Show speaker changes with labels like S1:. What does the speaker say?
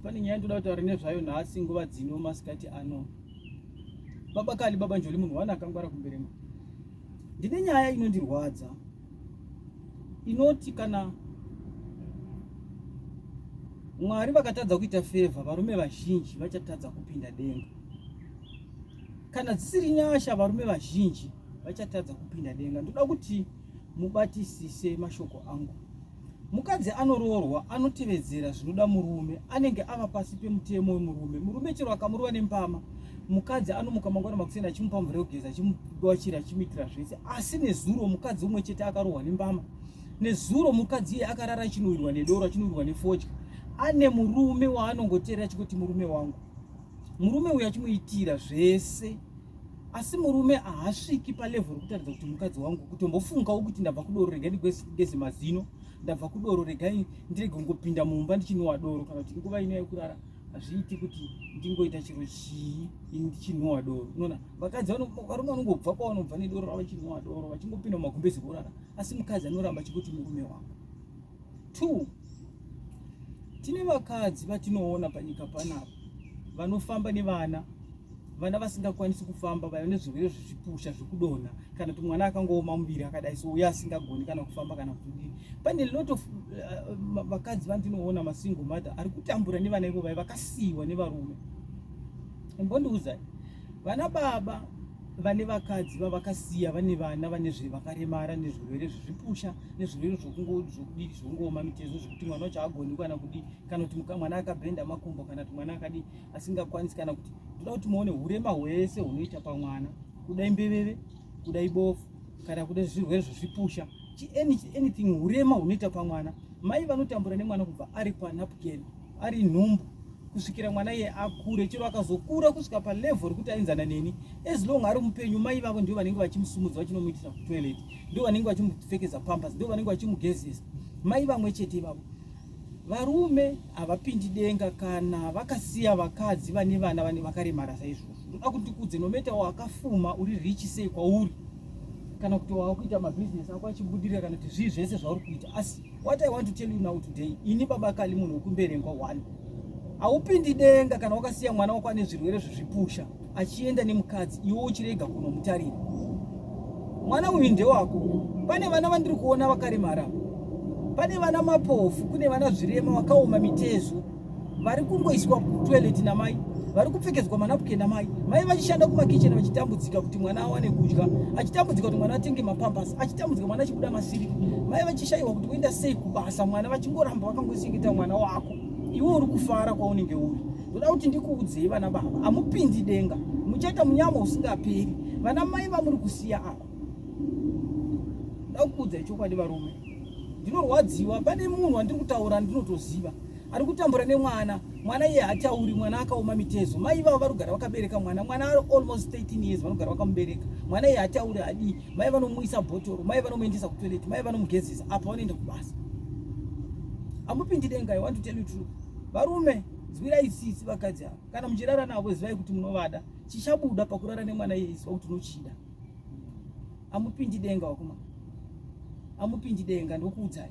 S1: Pane nyaya ndoda kutaura nezvayo nhasi nguva dzino masikati ano. Baba Kali baba Njoli munhu wani akangwara kumberema. Ndine nyaya inondirwadza inoti kana Mwari vakatadza kuita favor varume vazhinji vachatadza kupinda denga. Kana dzisiri nyasha varume vazhinji vachatadza kupinda denga. Ndoda kuti mubatisise mashoko angu. Mukadzi anoroorwa anotevedzera zvinoda murume, anenge ava pasi pemutemo wemurume. Murume chero akamurova nembama, mukadzi anomuka mangwana makuseni achimupa mvura yekugeza, achimudwachira, achimuitira zvese. Asi nezuro mukadzi umwe chete akarohwa nembama. Nezuro mukadzi iye akarara achinowirwa nedoro, achinowirwa nefodya. Ane murume waanongoteera achikuti murume wangu. Murume uyu achimuitira zvese. asi murume ahasviki palevel rekutaridza kuti mukadzi wangu kutombofungawo kuti ndabva kudoro regai ndigeze mazino ndabva kudoro regai ndirege kungopinda mumba ndichinhuwa doro kana kuti nguva ino yekurara hazviiti kuti ndingoita chiro chii ini ndichinhuwa doro unoona vakadzi varume vanongobva kwavanobva nedoro ravo vachinhuwa doro vachingopinda mumagumbezi vorara asi mukadzi anoramba chikuti murume wangu Two, tine vakadzi vatinoona panyika panapa vanofamba nevana vana vasingakwanisi kufamba vaiva nezvirwere zvezvipusha zvekudonha kana kuti mwana akangooma muviri akadai so uye asingagoni kana kufamba kana kudii pane lot of uh, vakadzi vandinoona masingle mother ari kutambura nevana ivo vai vakasiyiwa nevarume imbondiudzai vana baba vane vakadzi vavakasiya vane vana vane zvevakaremara nezvirwere zvezvipusha nezvirwere zvokudii zvokungooma mitezo zvekuti mwana wacho agoni kana kudii kana kuti mwana akabhenda makumbo kana kuti mwana akadii asingakwanisi kana kuti toda kuti muone urema hwese hunoita pamwana kuda imbeveve kuda ibofu kana kuda zvirwere zvezvipusha anything urema hunoita pamwana mai vanotambura nemwana kubva ari panapukeni ari nhumbu kusvikira mwana iye akure chero akazokura kusvika palevel rekuti ainzana neni as long ari mupenyu mai vavo ndivo vanenge vachimusumudza vachinomuitisa kutoilet ndivo vanenge vachimupfekeza pampas ndivo vanenge vachimugezesa mai vamwe chete ivavo varume havapindi denga kana vakasiya vakadzi vane vana vane vakaremara saizvozvo ndoda kuti ndikudze nometa wakafuma uri richi sei kwauri kana kuti wakuita mabhizinesi ako achibudirira kana kuti zvii zvese zvauri kuita asi What I want to tell you now today, ini baba Kali munhu wekumberengwa one. Haupindi denga kana wakasiya mwana wako ane zvirwere zvezvipusha achienda nemukadzi iwe uchirega kunomutarira. Mwana uyu ndewako. Pane vana vandiri kuona vakaremara. Pane vana mapofu, kune vana zvirema vakaoma mitezo. vari kungoiswa kutoilet namai vari kupfekedzwa manapukeni namai mai vachishanda kumakicheni vachitambudzika kuti mwana awane kudya achitambudzika kuti mwana atenge mapambasi achitambudzika mwana achibuda masiri mai vachishaiwa kuti voenda sei kubasa mwana vachingoramba vakangochengeta mwana wako iwe uri kufara kwaunenge uri ndoda kuti ndikuudzei vana baba amupindi denga muchaita munyama usingaperi vana mai vamuri kusiya apa ndakukuudzai chokwadi varume ndinorwadziwa pane munhu wandiri kutaura ndinotoziva ari kutambura nemwana mwana iye hatauri mwana akaoma mitezo mai ivavo vari kugara vakabereka mwana mwana ari almost 13 years vanogara vakamubereka mwana iye hatauri adii mai vanomuisa bhotoro mai vanomuendesa kutoilet mai vanomugezesa apa vanoenda kubasa amupindi denga i want to tell you true varume zwirai sisi vakadzi ava kana muchirara navo zivai kuti munovada chichabuda pakurara nemwana iye iziva kuti unochida amupindi denga wakuma amupindi denga ndokuudzai